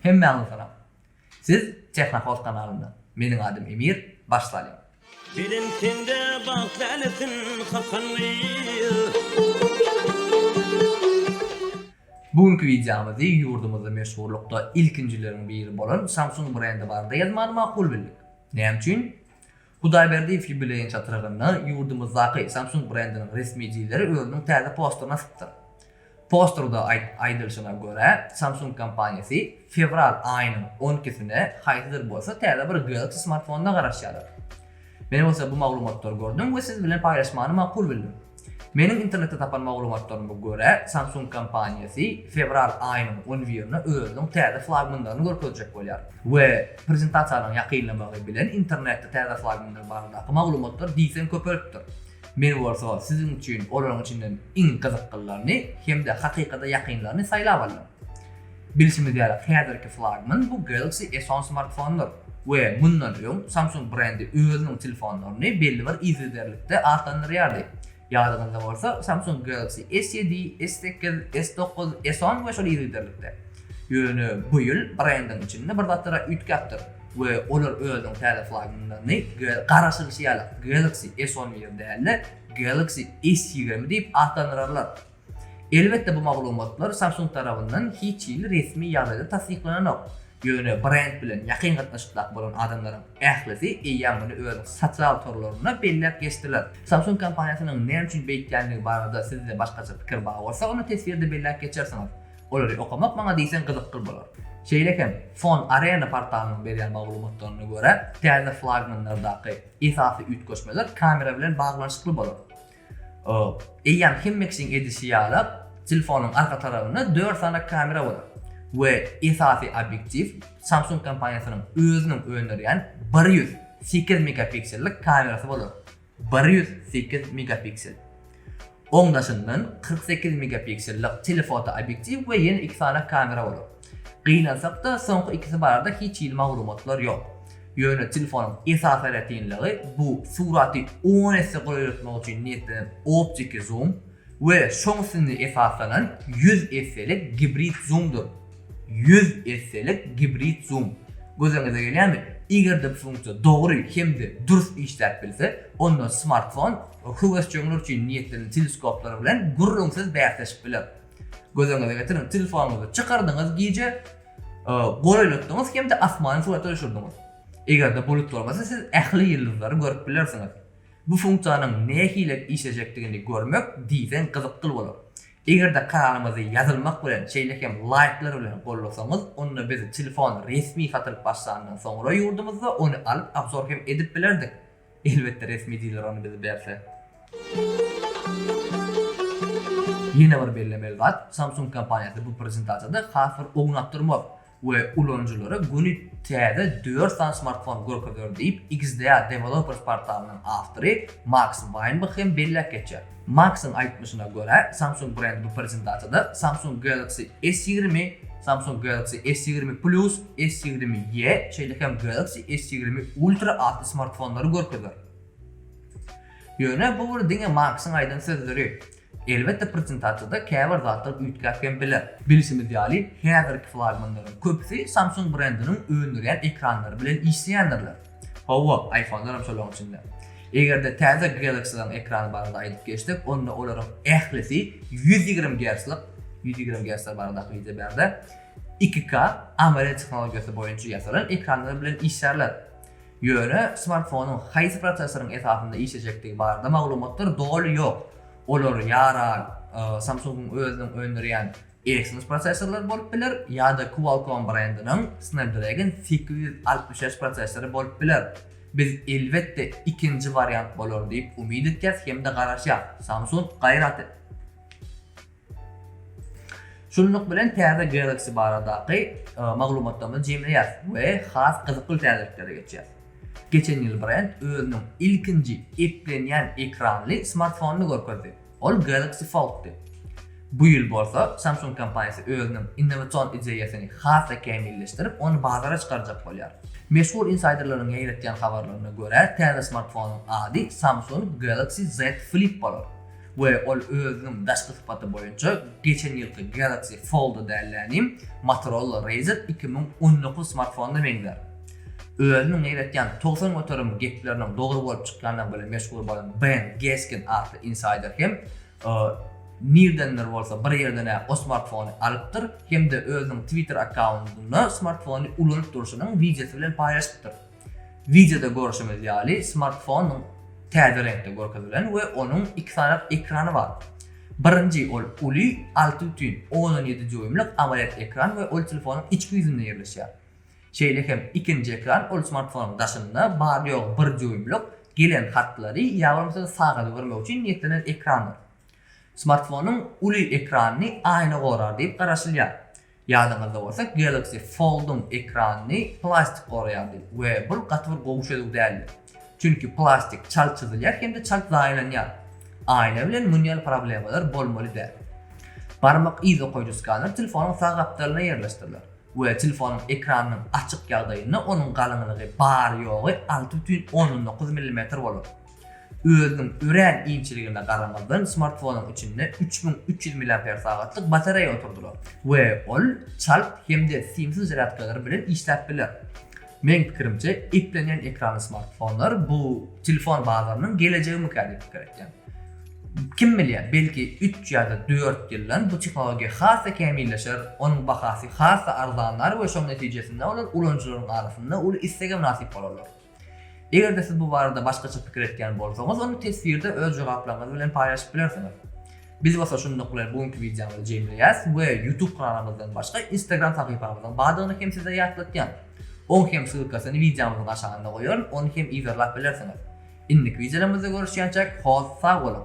Hemmäňize salam. Siz Technopost kanalynda. Meniň adym Emir, baş salýan. Belent sende bagt lälesin hakan gyz. Bu günki wideomyzy ýurdumyzda meşhurlykda ilkinjileriň biri bolan Samsung brendi barada ýazmany makul bildik. Näme üçin? Hudaýberdiýew ýubileýiň çatrygynda ýurdumyzdaky Samsung brendiniň resmi dileri özüniň täze posterini asypdyr. Posterde aýdylyşyna görä, Samsung kompaniýasy fewral aýynyň on ikisine haýsydyr bolsa täze bir Galaxy smartfonyna garaşýarlar. Men bolsa bu maglumatlary gördüm we siz bilen paýlaşmany makul bildim. Meniň internetde tapan maglumatlaryma görä, Samsung kompaniýasy fewral aýynyň on birine özüniň täze flagmanlaryny görkezjek bolýar we prezentasiýalaryň ýakynlamagy bilen internetde täze flagmanlar baradaky maglumatlar diýseň köpelipdir. Men bolsa siziň üçin olaryň içinden iň gyzyklylaryny hem-de hakykata ýakynlaryny saýlap aldym. Bilşimiz ýaly, häzirki flagman bu Galaxy S10 smartfonydyr we mundan öň Samsung brendi özüniň telefonlaryny belli bir yzygiderlikde atlandyrýardy. Ýadyňyzda bolsa, Samsung Galaxy S7, S8, S9, S10 we şol yzygiderlikde. Ýöne bu ýyl brendiň içinde bir zatlara üýtgäpdir we olar özüniň täze flagmanlaryny garaşylyşy ýaly Galaxy S11 däl-de, Galaxy S20 diýip atlandyrarlar. Elbetde bu maglumatlar Samsung tarabyndan hiç hili resmi ýagdaýda tassyklananok. Ýöne brend bilen ýakyn gatnaşykdaky bolan adamlaryň ählisi eýýäm muny özüniň sosial torlarynda belläp geçdiler. Samsung kompaniýasynyň näme üçin beýtýändigi barada sizde başgaça pikir bar bolsa ony teswirde belläp geçersiňiz. Olary okamak maňa diýseň gyzykly bolar. Şeýle hem Phone Arena portalynyň berýän maglumatlaryna görä, täze flagmanlardaky esasy üýtgeşmeler kamera bilen baglanyşykly bolar. Eýýäm hemmekiň edişi ýaly, telefonyň arka tarabynda dört sany kamera bolar we esasy obýektiw Samsung kompaniýasynyň özüniň öndürýän bir ýüz sekiz megapiksellik kamerasy bolar, bir ýüz sekiz megapiksel. Oň daşyndan kyrk sekiz megapiksellik telefoto obýektiw we ýene iki sany kamera bolar. Gynansak-da, soňky ikisi barada hiç hili maglumatlar ýok. Ýöne telefonyň esasy aýratynlygy bu suraty on esse golaýlatmak üçin niýetlenen optiki zoom we şoň üstünde esaslanan ýüz esselik gibrid zoomdyr. Ýüz esselik gibrid zoom. Gözüňize gelýärmi? Eger-de bu funksiýa dogry hem-de dürs işläp bilse, onda smartfon höwesjeňler üçin niýetlenen teleskoplar bilen gürrüňsiz bäsleşip biler. Göz öňüňize getiriň, telefonuňyzy çykardyňyz gije, goýlatdyňyz hem-de asmany surata düşürdiňiz. Eger-de bulut bolmasa, siz ähli ýyldyzlary görüp bilersiňiz. Bu funksiýanyň nähili işlejekdigini görmek diýseň gyzykly bolar. Eger-de kanalymyzy ýazylmak bilen, şeýle hem laýklar bilen gollasaňyz, onda biz telefon resmi satylyp başlandan soňra ýurdumyzda ony alyp obzor hem edip bilerdik. Elbetde resmi diler ony bize berse. Ýene bir bellemeli zat, Samsung kompaniýasy bu prezentasiýada has bir ownap durmaz we ulanyjylara göni täze dört sany smartfon görkezer diýip, XDA Developers portalynyň awtory Maks Waýnbach hem belläp geçýär. Maksyň aýtmyşyna görä, Samsung brendi bu prezentasiýada Samsung Galaxy S ýigrimi, Samsung Galaxy S ýigrimi Plus, S ýigrimi E, şeýle hem Galaxy S ýigrimi Ultra atly smartfonlary görkezer. Ýöne bu bir diňe Maksyň aýdan sözleri. Elbetde prezentasiýada käbir zatlar üýtgäp hem biler. Bilşimiz ýaly, häzirki flagmanlaryň köpüsi Samsung brendiniň öndürýän ekranlary bilen işleýändirler. Hawa, iPhone-lar hem şolaryň içinde. Eger-de täze Galaxy-laryň ekrany barada aýdyp geçsek, onda olaryň ählisi ýüz ýigrimi gerclik, ýüz ýigrimi gercler barada akyl idýär bärde, iki K AMOLED tehnologiýasy boýunça ýasalan ekranlar bilen işlärler. Ýöne smartfonyň haýsy prosessoryň esasynda işlejekdigi barada maglumatlar doly ýok. Olar ýa-da Samsung-yň özüniň öndürýän Exynos prosessorlary bolup biler ýa-da Qualcomm brendiniň Snapdragon sekiz ýüz altmyş bäş prosessory bolup biler. Biz elbetde ikinji wariant bolar diýip umyt etýäs hem-de garaşýas. Samsung gaýrat et! Şunluk bilen täze Galaxy baradaky maglumatlarymyzy jemleýäris we has gyzykly täzeliklere geçýäris. Geçen ýyl brend özüniň ilkinji eplenýän ekranly smartfonyny görkezdi. Ol Galaxy Fold-dy. Bu ýyl bolsa Samsung kompaniýasy özüniň innowasion ideýasyny has-da kämilleşdirip, ony bazara çykarjak bolýar. Meşhur insayderleriň ýaýratýan habarlaryna görä, täze smartfonyň ady Samsung Galaxy Z Flip bolar we ol özüniň daşky sypaty boýunça geçen ýylky Galaxy Fold-a däl-de, inim, Motorola Razr iki müň on dokuz smartfonyna meňzär. Özümiň neýletýän togsan göterim gepleriniň dogry bolup çykýandygy bilen meşhur bolan Ben Geskin atly insaýder hem nirdendir bolsa bir ýerden-ä o smartfony alypdyr hem-de özüniň Twitter akkauntynda smartfony ulanyp durşunyň wideosy bilen paýlaşypdyr. Wideoda görşümiz ýaly, smartfonyň täze reňkde görkezilen we onuň iki sany ekrany bar. Birinji ol uly, alty bütin ondan ýedi dýuýmlyk amoled ekran we ol telefonyň içki ýüzünde ýerleşýär. Şeýle hem ikinji ekran ol smartfonyň daşynda bary-ýogy bir dýuýmlyk, gelen hatlary ýa bolmasa sagaty görmek üçin niýetlenen ekrandyr. Smartfonyň uly ekranyny aýna gorar diýip garaşylýar. Ýadyňyzda bolsa Galaxy Fold-yň ekranyny plastik goraýardy we bul gaty bir gowy çözüw däldi. Çünki plastik çalt çyzylýar hem-de çalt zaýalanýar. Aýna bilen muny ýaly problemalar bolmaly däl. Barmak yzokoýuji skaner telefonyň sag gapdalyna ýerleşdiriler. we telefonyň ekranynyň açyk ýagdaýynda onuň galyňlygy bary-ýogy alty bütin ondan dokuz millimetr bolar. Özüniň örän inçeligine garamazdan, smartfonyň içinde üç müň üç ýüz milliamper sagatlyk batareýa oturdylar we ol çalt hem-de simsiz zarýadkalar bilen işläp biler. Meň pikirimçe eplenýän ekranly smartfonlar bu telefon bazarynyň gelejegimikä diýip pikir etýän. Kim bilýär belki üç ýada dört ýyldan bu tehnologiýa has-da kämilleşer, onuň bahasy has-da arzanlar we şoň netijesinde olar ulanyjylaryň arasynda uly istege mynasyp bolarlar. Egerde siz bu barada başgaça pikir etýän bolsaňyz ony teswirde öz jogaplaryňyz bilen paýlaşyp bilersiňiz. Biz bolsa şunluk bilen bu günki wideomyzy jemleýäs we YouTube kanalymyzdan başga Instagram sahypamyzyň bardygyny hem size ýatlatýan. Oň hem ssylkasyny wideomyzyň aşagynda goýaryn, ony hem yzarlap bilersiňiz. Indiki wideolarymyzda görüşýänçäk hoz sag boluň!